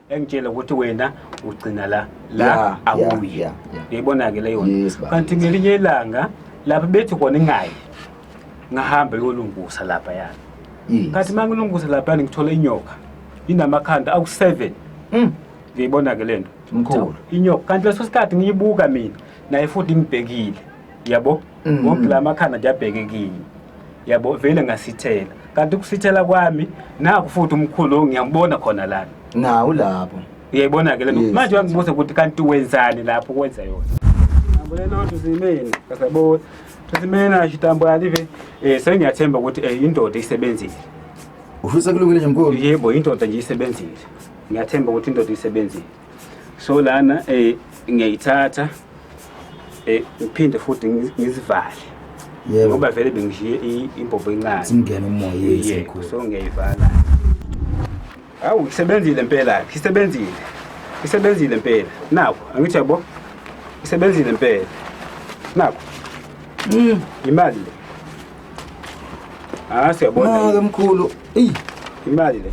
engitshela ukuthi wena ugcina la la Yeah, awuyi yeah, yeah, yeah. uyayibona-ke leyo nto. Yes, baba. kanti ngelinye ilanga lapha bethi kona ingayi ngahamba yolungusa lapha yani Yes. kanti uma ngilungusa lapha yani ngithola inyoka inamakhanda awu-seven Mm. ngiyibona-ke le nto Mkhulu. inyoka kanti leso sikhathi ngiyibuka mina naye futhi ngibhekile yabo Mm. ngoba la makhanda nje abheke kimi yabo vele ngasithela kanti ukusithela kwami naku futhi umkhulu lo ngiyambona khona lana nawu lapho uyayibona-ke le nto Yes. manje wangibuza ukuthi kanti wenzani lapho kwenza yona Ambulelo tusimeni kasabona tusimeni ashitambo alive eh sengiyathemba ukuthi eh indoda isebenzile ufisa kulungile nje mkhulu yebo indoda nje isebenzile ngiyathemba ukuthi indoda isebenzile so lana eh ngiyayithatha eh ngiphinde futhi ngi- ngizivale yebo ngoba vele bengishiye i- imbobo encane simngene umoya Yebo, yesekhulu so ngiyayivala awu isebenzile impela ke isebenzile isebenzile impela naku angithi yabo isebenzile impela naku Mm. imali le ah siyabona maka mkhulu eyi imali le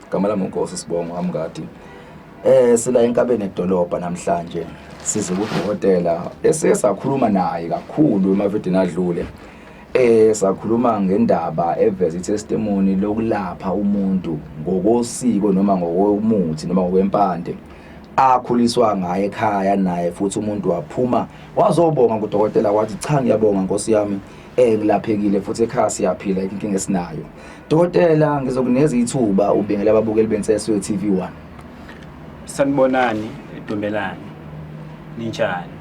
Gama lami uNkosi Sibongo Amngadi. Eh sila enkabeni edolobha namhlanje. Size kudokotela esiye sakhuluma naye kakhulu emavidini adlule. Eh sakhuluma ngendaba eveza itestimony lokulapha umuntu ngokosiko noma ngokomuthi noma ngokwempande. akhuliswa ngaye ekhaya naye futhi umuntu waphuma wazobonga kudokotela wathi cha ngiyabonga nkosi yami ekulaphekile futhi ekhaya siyaphila inkinga esinayo dokotela ngizokunikeza ithuba ubingela ababukeli benseswe TV1 sanibonani edumbelani ninjani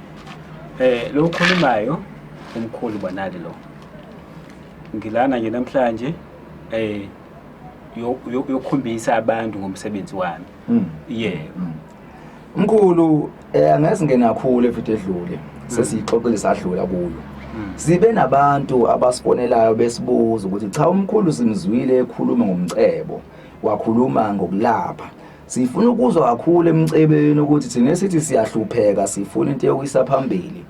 eh lo ukhulumayo umkhulu bonali lo ngilana nje namhlanje eh yokukhombisa abantu ngomsebenzi wami hmm. yebo Mkhulu eh angeze ngena kakhulu evithi edlule sesiyixoxile sadlula kuyo. Sibe nabantu abasifonelayo besibuza ukuthi cha umkhulu simzwile ekhuluma ngomcebo wakhuluma ngokulapha. Sifuna ukuzwa kakhulu emcebeni ukuthi thina sithi siyahlupheka sifuna into yokuyisa phambili.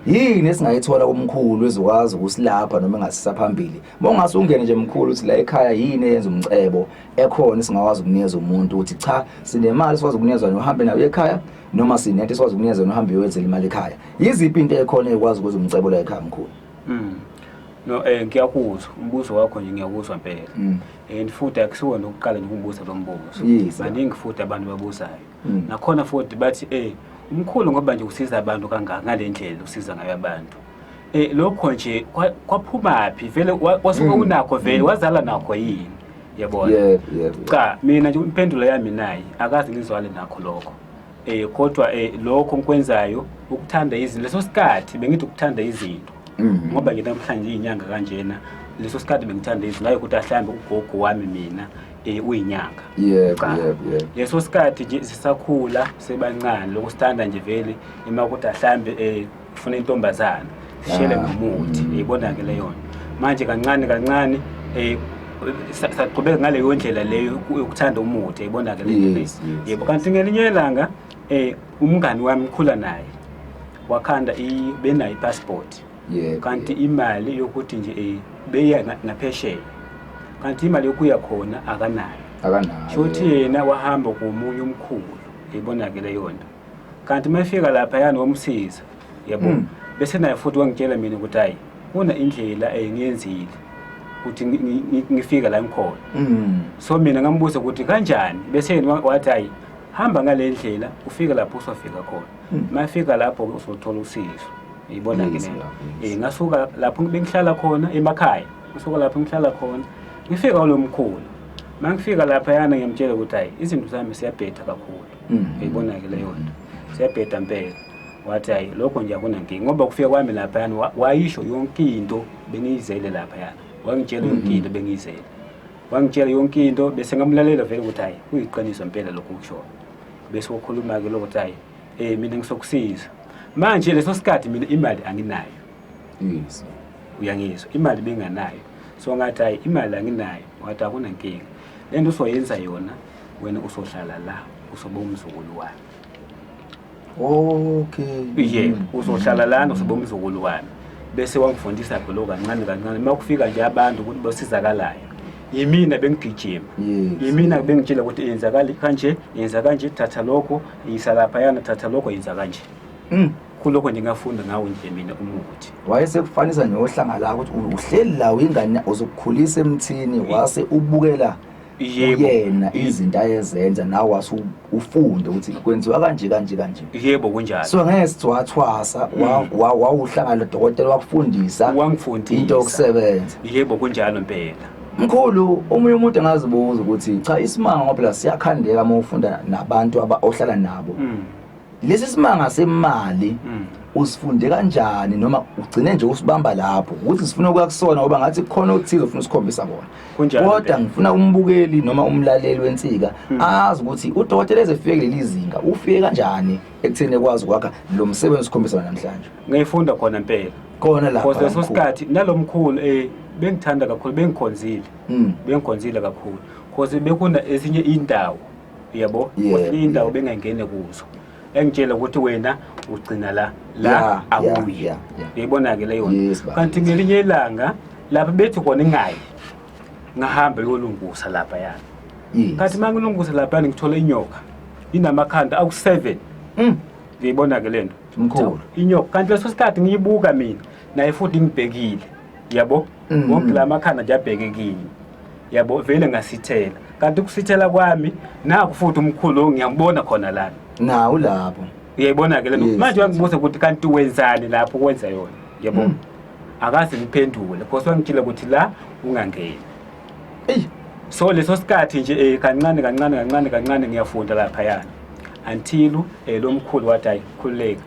Yini esingayithola kumkhulu ezokwazi ukusilapha noma engasisa phambili Mongase ungene nje mkhulu uthi la ekhaya yini eyenza umcebo ekhona singakwazi ukunikeza umuntu ukuthi cha sinemali sikwazi ukunikeza yona uhambe nayo ekhaya noma sinento sikwazi ukunikeza yona uhambe uyoyenzela imali ekhaya. Yiziphi into ekhona ekwazi ukwenza umcebo la ekhaya mkhulu? Mm. No eh ngiyakuzwa umbuzo wakho nje ngiyakuzwa impela. Mm. And futhi akusiwona ukuqala nje ukubuza lo mbuzo. Yes, yeah. Baningi futhi abantu babuzayo. Mm. Nakhona futhi bathi eh umkhulu ngoba nje usiza abantu kangaka ngalendlela usiza ngayo abantu. Eh lokho nje kwaphumaphi vele wasuke mm. unakho vele mm. wazala nakho yini yabona yeah yeah cha mina nje impendulo yami nayi akazi ngizwale nakho lokho eh kodwa eh lokho ngikwenzayo ukuthanda izinto leso sikhathi bengithi ukuthanda izinto mm. ngoba ke namhlanje inyanga kanjena leso sikhathi bengithanda izinto ngayo ukuthi ahlambe ugogo wami mina eh uyinyanga yebo yebo yebo leso sikhathi nje sisakhula sebancane lokusithanda nje vele emakuthi ahlambe eh ufuna intombazana shele ah. nomuthi uyibona ke leyona manje kancane kancane eh saqhubeka ngaleyo ndlela leyo yokuthanda umuthi uyibona ke leyona yebo kanti ngelinye ilanga eh umngani wami ukhula naye wakhanda benayo ipassport yeah, kanti yeah. imali yokuthi nje eh, beya naphesheya kanti imali yokuya khona akanayo akanayo sho ukuthi yena wahamba komunye umkhulu ibonakele yona kanti uma efika laphayana wamsiza yabo Mm. bese naye futhi wangitshela mina ukuthi hayi kuna indlela engiyenzile ukuthi ngi- ngi- ngi- ngifike la ngikhona Mm. so mina ngambuza ukuthi kanjani bese yena wa- wathi hayi hamba ngale ndlela ufike lapho usofika khona Mm. uma efika lapho uzothola usizo yibona ke Yes, lena love, yes. Eh, ngasuka lapho bengihlala khona emakhaya ngisuka lapho ngihlala khona ngifika kulo mkhulu uma ngifika laphayana ngiyamtshela ukuthi hayi izinto zami siyabhetha kakhulu Mm. Uyibona-ke leyo nto. Siyabheda mpela. Wathi hayi lokho nje akunankinga ngoba kufika kwami laphayana wa- wayisho yonke into bengiyizele laphayana. Wangitshela yonke into bengiyizele. Wangitshela yonke into bese ngamlalela vele ukuthi hayi kuyiqiniso mpela lokho kushoyo. Bese wokhuluma-ke lokho ukuthi hayi eh mina ngisokusiza. Manje leso sikhathi mina imali anginayo. Yes. uyangizwa imali benganayo so ngathi hayi imali anginayo wathi akunankinga le nto usoyenza yona wena usohlala la usobe umzukulu wami okay ye mm. uzohlala lana usobe umzukulu wami bese wangifundisa golo kancane kancane uma kufika nje abantu ukuthi basizakalayo yimina bengigijima yimina bengitshela ukuthi yenza kanje yenza kanje thatha lokho yisa laphayana thatha lokho yenza kanje mm. kulokho ndingafunda ngawo nje mina umuthi wayesekufanisa neohlanga la ukuthi uhleli la ingane uzokukhulisa emthini wase ubukela yebo yena izinto ayezenza nawe wase ufunde ukuthi kwenziwa kanje kanje kanje yebo kunjalo so ngeke siwathwasa wawuhlangana dokotela wakufundisa wangifundisa into yokusebenza yebo kunjalo impela mkhulu omunye umuntu angazibuza ukuthi cha isimanga ngoba la siyakhandeka uma ufunda nabantu ohlala nabo mm. lesi simanga semali mm. usifunde kanjani noma ugcine nje usibamba lapho ukuthi sifuna ukuya kusona ngoba ngathi kukhona okuthize ufuna usikhombisa kona kodwa ngifuna umbukeli noma umlaleli wensika mm. azi ukuthi udokotela ezefike kuleli zinga ufike kanjani ekutheni ekwazi ukwakha lo msebenzi sikhombisa namhlanje ngiyifunda khona impela khona la because leso sikhathi nalomkhulu eh bengithanda kakhulu bengikhonzile mm. bengikhonzile kakhulu because bekuna ezinye indawo yebo Yeah. enye indawo bengangene kuzo engitshele ukuthi wena ugcina la la Yeah, yeah, awuyi yeah, yeah. uyayibona-ke le yona Yes, baba. kanti ngelinye ilanga lapha bethi kona ingayi ngahambe yolungusa lapha yani Yes. kanti uma ngilungusa lapha yani ngithola inyoka inamakhanda awu-seven Mm. uyayibona-ke le nto Mkhulu. inyoka kanti leso sikhathi ngiyibuka mina naye futhi ngibhekile yabo mm. wonke la makhanda nje abheke kini yabo vele ngasithela kanti ukusithela kwami naku futhi umkhulu ngiyambona khona lana nawu lapho uyayibona ke lento manje wangibuza ukuthi kanti wenzani lapho kwenza yona yabo mm. akaze ngiphendule because wangitshela ukuthi la ungangeni eyi so leso sikhathi nje eh, kancane kancane kancane kancane ngiyafunda lapha yana until eh, lo mkhulu wathi ayi khululeka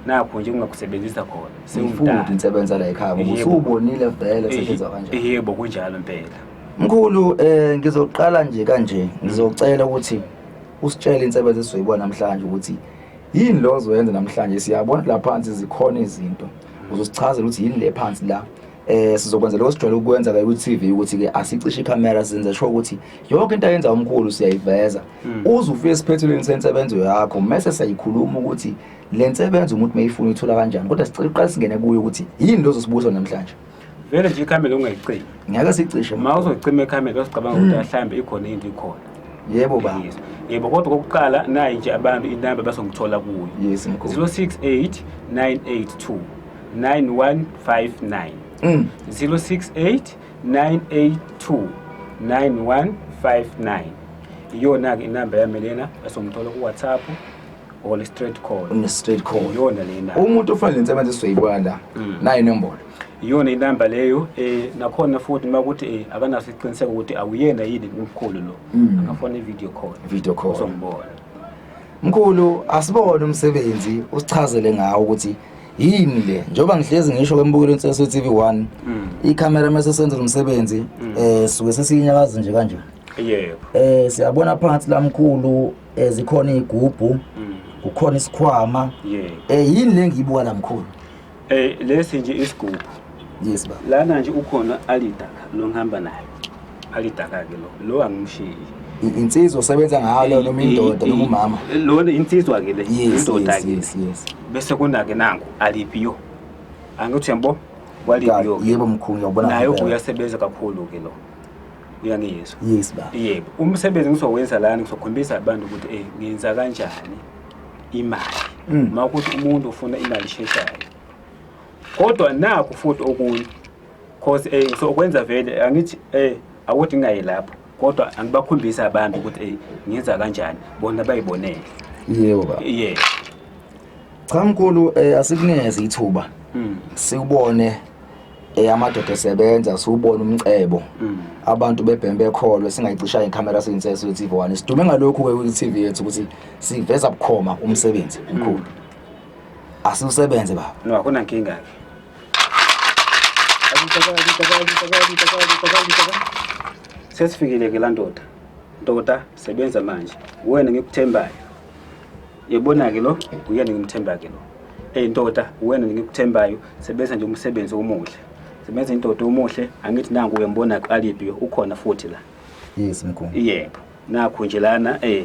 nakho nje kungakusebenzisa khona sewumdala ngisebenza la ekhaya ngoba usubonile vele kusetshenzwa kanjani yebo kunjalo impela mkhulu eh ngizoqala nje kanje ngizocela ukuthi usitshele insebenzo esizoyibona namhlanje ukuthi yini lo ozoyenza namhlanje siyabona la phansi zikhona izinto uzosichazela ukuthi yini le phansi la eh sizokwenza lokho sijwayele ukwenza ke ku-TV ukuthi ke asicishe ikhamera senze sho ukuthi yonke into ayenza umkhulu siyayiveza hmm. uze ufike esiphethelweni sensebenzo yakho mese siyayikhuluma ukuthi le nsebenzo umuntu meyifuna ithola kanjani kodwa sicela uqale singene kuyo ukuthi yini lozo sibuso namhlanje vele nje ikhamera ungayicimi ngeke sicishe ma uzocima ikhamera usicabanga ukuthi hmm. ahlambe ikhona into ikhona yebo ba yebo kodwa kokuqala nayi nje abantu inamba basongithola kuyo yes 068 982 9159 mm. 068 982 9159 iyona-ke inamba yami lena esomthola ku-whatsapp or straight call une straight call iyona lena umuntu ofanele nsebenze sizoyibuka la mm. nayo inombolo iyona inamba leyo eh nakhona futhi uma ukuthi eh akanaso iqiniseko ukuthi awuyena yini umkhulu lo mm. angafona i-video call video call uzombona mkhulu asibone umsebenzi usichazele ngawo ukuthi yini le njengoba ngihlezi ngisho kwembukelo insese TV 1 mm. icamera mase senza umsebenzi mm. eh suke sesiyinyakaza nje kanje yebo eh siyabona phansi lamkhulu eh, zikhona igubhu mm. kukhona isikhwama yebo eh yini le ngiyibuka lamkhulu eh lesi nje isigubhu Yes baba. Lana nje ukhona alidaka lo ngihamba naye. Alidaka ke lo. Lo angimshiyi. I- Insizwa osebenza ngayo leyo noma indoda noma umama. Lona insizwa ke le. Yes, Indoda yes, ke. yes, yes. Bese kona ke nangu alipiyo. Angithi uyambo? Walipiyo. Ka- Yebo mkhulu ngiyabona. Naye ngempela. uyasebenza kakhulu ke lo. Uyangiyizwa. Yes baba. Yebo, umsebenzi ngizowenza lana ngizokhombisa abantu ukuthi eh ngenza kanjani imali. Mm. Uma ukuthi umuntu ufuna imali esheshayo. kodwa nakho futhi okunye cause eh ngisokwenza vele angithi eh awuthi ngingayi lapho kodwa angibakhombisi abantu ukuthi eh ngenza kanjani bona bayibonele yebo baba yeah cha mkhulu eh, asikunikeze ithuba mm. siwubone eh, amadoda esebenza siwubone umcebo mm. abantu bebheme bekholwe singayicisha ikhamera siyinsese kwi-tv one sidume ngalokhu-ke kwi-tv yethu ukuthi siveza bukhoma umsebenzi mkhulu mm. Asiwusebenze baba. No, akuna nkinga ke. Sesifikile ke la ndoda. Ndoda sebenza manje. Wena ngikuthembayo. Yebona ke lo, uyena ngimthemba ke lo. Hey ndoda, wena ngikuthembayo, sebenza nje umsebenzi omuhle. Sebenza indoda omuhle, angithi nangu uyambona alibi ukhona futhi la. Yes mkhulu. Yebo. Nakho nje lana eh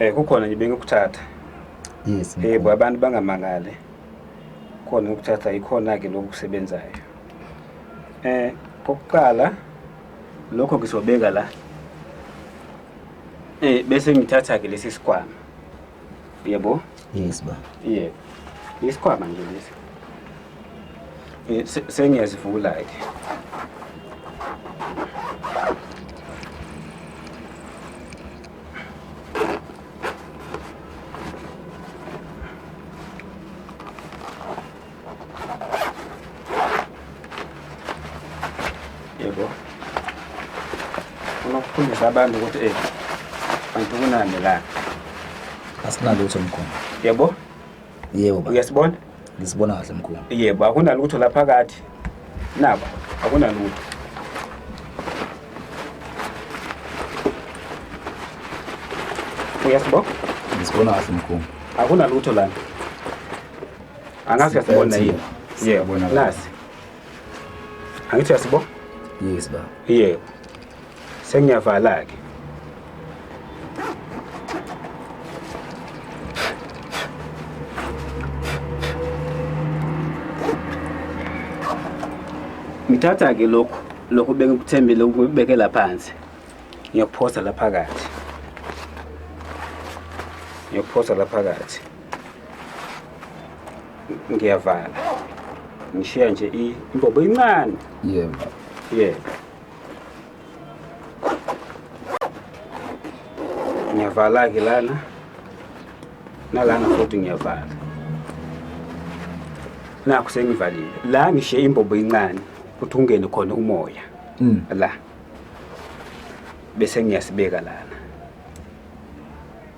Eh kukhona nje bengikuthatha. Yes. Eh bo abantu bangamangale. Khona ukuthatha ikhona ke lokusebenzayo. Eh kokuqala lokho ngizobeka la. Eh bese ngithatha ke lesi sikwama. Yebo? Yes ba. Yebo. Isikwama nje lesi. Eh sengiyazivula ke. yebo funa ukufundisa abantu ukuthi eh bantu kunani la asinalutho mkhulu yebo yebo baba uyasibona ngisibona kahle mkhulu yebo akunalutho la phakathi naba akunalutho uyasibona ngisibona kahle mkhulu akunalutho lana angazi uyasibona yini yebo nasi angithi uyasibona yes baba yebo sengiyavala-ke ngithatha ke lokhu lokhu bengikuthembile ukubekela phansi ngiyokuphosa laphakathi ngiyokuphosa laphakathi ngiyavala ngishiya nje i- imbobo incane yebo yebo ngiyavala-ke lana nalana futhi ngiyavala nakho sengivalile la ngishiye imbobo incane ukuthi ungene khona umoya Mm. la bese ngiyasibeka lana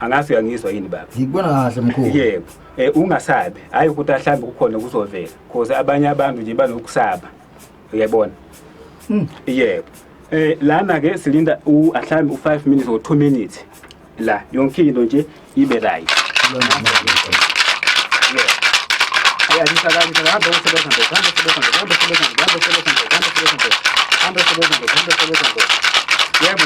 angazi uyangizwa yini baba ngikubona kahle mkhulu yebo eh ungasabi hayi ukuthi ahlambe kukhona kuzovela cause abanye abantu nje banokusaba uyabona hmm. yebo eh lana ke silinda uhlambe u5 minutes or 2 minutes la yonke into nje ibe right Yeah,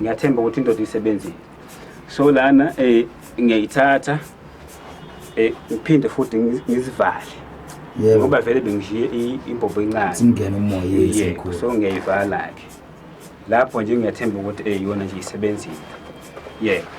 ngiyathemba ukuthi indoda isebenzile so lana eh ngiyayithatha eh ngiphinde futhi ngizivale yebo ngoba vele bengishiye imbombo encane singena umoya yesikhulu so ngiyayivala ke lapho nje ngiyathemba ukuthi eh yona nje isebenzile yebo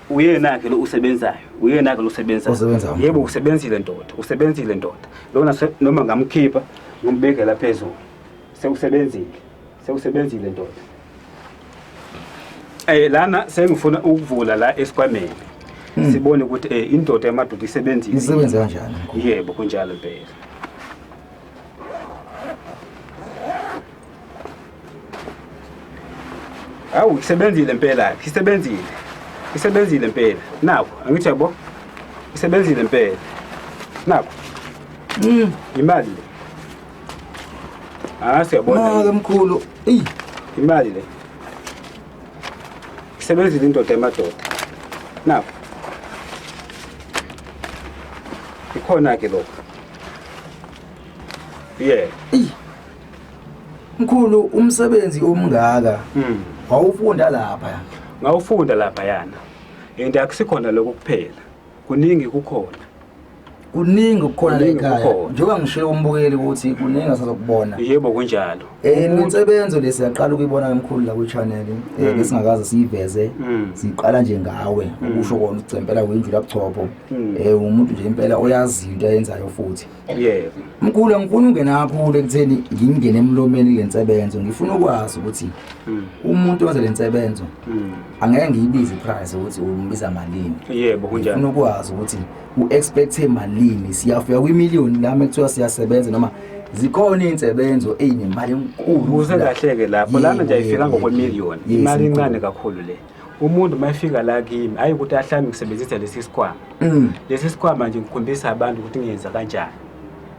uyena-ke lo usebenzayo uyena-ke lo usebenzayo Osebenzayo. yebo usebenzile ndoda usebenzile ndoda lona se- noma ngamkhipha ngombekela phezulu sewusebenzile sewusebenzile ndoda um lana sengifuna ukuvula la esikhwameni sibone ukuthi um indoda yamadoda isebenzile isebenze kanjani mkhulu yebo kunjalo impela awu isebenzile mpela isebenzile isebenzile mpela naku angithi yabo isebenzile mpela naku mm. imali le ah siyabona mkhulu imali le isebenzile indoda emadoda naku ikhona ke lokho yeah Mkhulu umsebenzi omngaka hmm. wawufunda lapha. Ngawufunda lapha yana. And akusikhona lokho kuphela. Kuningi kukhona. Kuningi kukhona la ekhaya. Njengoba ngishilo umbukeli ukuthi kuningi asazokubona. Yebo kunjalo. Eh insebenzo lesi yaqala ukuyibona emkhulu la ku channel eh hmm. besingakaze siyiveze. Hmm. Siqala nje ngawe ukusho kona ucempela kwendlu lapho. Eh umuntu nje impela oyazi into ayenzayo futhi. yebo mkhulu angifuni ungena kakhulu ekutheni ngingene emlomeni le nsebenzo ngifuna ukwazi ukuthi hmm. umuntu owenza le nsebenzo hmm. angeke ngiyibize iprice ukuthi umbiza malini yebo kunjani ngifuna ukwazi ukuthi u-expecte malini siyafika kwimiliyoni lami ekuthiwa siyasebenza noma zikhona iy'nsebenzo ey'nemali enkulu uze kahleke lapho lana nje ayifika ngokwemiliyoni imali incane kakhulu le umuntu uma efika la kimi hhayi ukuthi ahlale ngisebenzisa lesi sikhwama Mm. lesi sikhwama nje ngikhombisa abantu ukuthi ngiyenza kanjani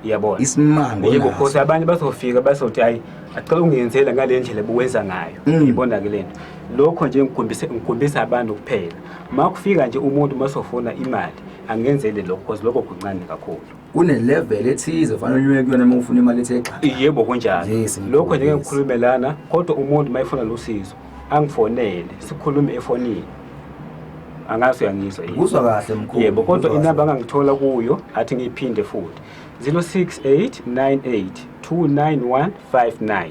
uyabona Isimango yebo naso. khosi abanye bazofika bazothi hayi acela ungenzela ngale ndlela buwenza ngayo Mm. ibona ke lento lokho nje ngikhombisa ngikhombisa abantu kuphela uma kufika nje umuntu uma sofuna imali angenzele lokho because lokho kuncane kakhulu Kunelevel ethize fanele unyuke kuyona uma ufuna imali ethe xaxa. yebo kunjalo Yes, lokho nje ngikhombisa. ngikhulume lana kodwa umuntu uma efuna losizo angifonele sikhulume efonini angazi uyangizwa yini Uzwa kahle mkhulu. yebo kodwa Uzwa kahle. inamba angangithola kuyo athi ngiyiphinde futhi 0689829159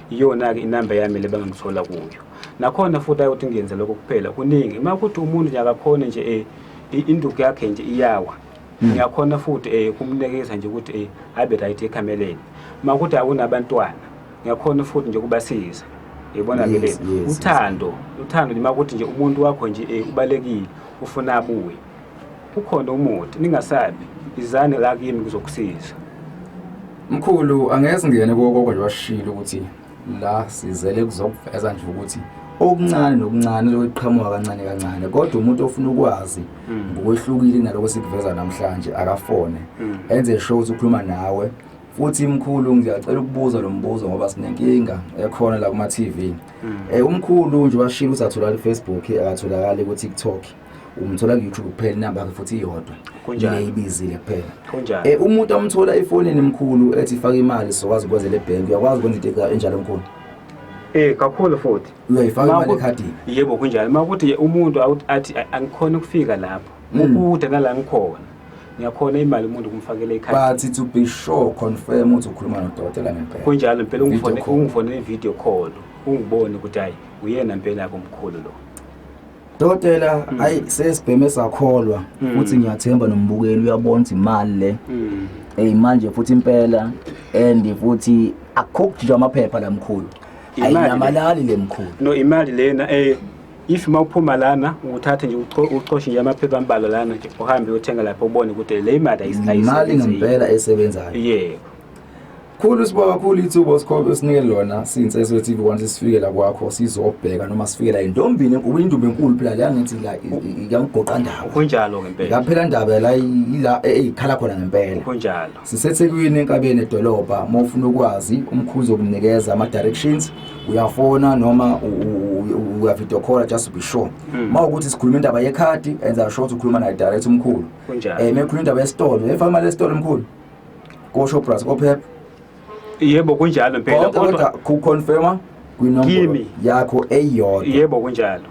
iyona-ke inamba yami le bangangithola kuyo nakhona futhi ayikuthi ngiyenze lokho kuphela kuningi uma kuthi umuntu nje akakhone nje um induku yakhe nje iyawa ngiyakhona futhi um kumnikeza nje ukuthi um abe right ekhameleni uma kuthi akunabantwana ngiyakhona futhi nje ukubasiza yibona ke le uthando uthando nje makuthi nje umuntu wakho nje eh, ubalekile ufuna abuye ukhona umuthi ningasabi izani la kimi kuzokusiza mkhulu angeze ngene kokoko nje washilo ukuthi la sizele kuzokuveza nje ukuthi okuncane nokuncane lokuqhamuka kancane kancane kodwa umuntu ofuna ukwazi hmm. ngokwehlukile naloko sikuveza namhlanje akafone hmm. enze sure ukuthi ukhuluma nawe futhi mkhulu ngiyacela ukubuza lo mbuzo ngoba sinenkinga ekhona la kuma-tv um mm. eh, umkhulu nje washilo ukuthi atholakala ifacebook akatholakali ukuthi tiktok umthola ku-youtube kuphela inamba yakhe futhi iyodwa neyibizile kuphela um umuntu amthola efonini mkhulu ethi fake imali sizokwazi ukwenza le bhenki uyakwazi ukwenza into enjalo mkhulu Eh kakhulu futhi. Uyayifaka imali ekhadini. Yebo kunjalo. Makuthi umuntu athi angikhona ukufika lapho. Mm. Ukude nala ngikhona. ngiyakhona imali umuntu ukumfakela ikhadi but to be sure confirm ukuthi ukhuluma nodokotela ngempela kunjalo impela ungifone ungifone ne video call ungibone ukuthi hayi uyena impela yakho mkhulu lo Dokotela hmm. ayi sesibheme sakholwa hmm. futhi ngiyathemba nombukeli uyabona ukuthi imali le hmm. eh manje futhi impela and futhi akukho nje amaphepha lamkhulu ayinamalali lemkhulu no imali lena eh if uma uphuma lana uthathe nje ucoshe nje amaphepha ambalwa lana nje uhambe uyothenga lapho ubone ukuthi le imali ayimali ngempela esebenzayo yebo khulu siba kakhulu ithuba osikhobe sinike lona since so TV once sifikela kwakho sizobheka noma sifikela indombini enkulu indumbe enkulu phela la ngithi la ikamgoqa ndawo kunjalo ngempela ngaphela ndaba la ila ekhala khona ngempela kunjalo sisethekwini enkabeni edolobha uma ufuna ukwazi umkhuzi okunikeza ama-directions uyafona noma uyavideo call just be sure hmm. uma ukuthi sikhuluma indaba yekhadi enza sure ukuthi ukhuluma naye direct umkhulu um eh, uma ekhuluma indaba yesitolo efama lesitolo mkhulu koshopras kophepha yebo kunjalo mpela kodwa kuconfirma kwinombolo yakho eyodwa yebo kunjalo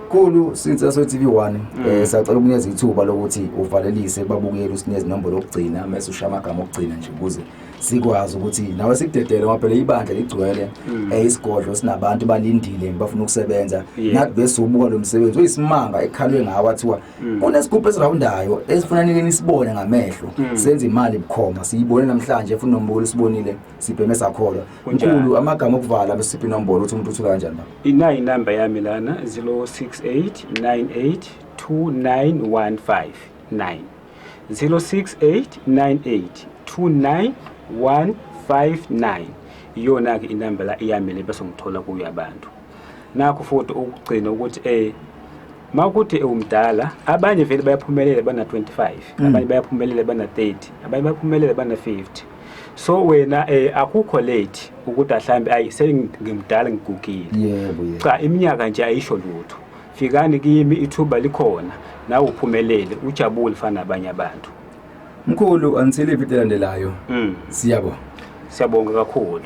Khulu since aso TV 1 mm. eh sacela ukunikeza ithuba lokuthi uvalelise babukele usineze nombolo lokugcina mase usha amagama okugcina nje ukuze sikwazi ukuthi nawe sikudedele ngoba phela ibandla ligcwele mm. eh isigodlo sinabantu balindile bafuna ukusebenza nathi bese ubuka lo msebenzi uyisimanga ekhalwe ngawa thiwa mm. kunesigubhu esirawundayo esifuna nike nisibone ngamehlo senze imali bukhoma siyibone namhlanje funa nombolo sibonile sibheme sakholwa Kunjalo. mkhulu amagama okuvala besiphi inombolo ukuthi umuntu uthula kanjani baba inayi inamba yami lana 0689829159 0689829159 iyona-ke inamba la iyami le bese ngithola kuyo abantu nakho futhi ukugcina ukuthi eh ma ukuthi ewumdala abanye vele bayaphumelela bana-25 abanye bayaphumelela bana-30 abanye bayaphumelela bana-50 so wena eh akukho late ukuthi ahlambe ayi sengimdala ngigugile yebo yebo cha iminyaka nje ayisho lutho fikani kimi ithuba likhona nawe uphumelele ujabule fana abanye abantu mkhulu until ividiyo elandelayo mm. siyabonga siyabonga kakhulu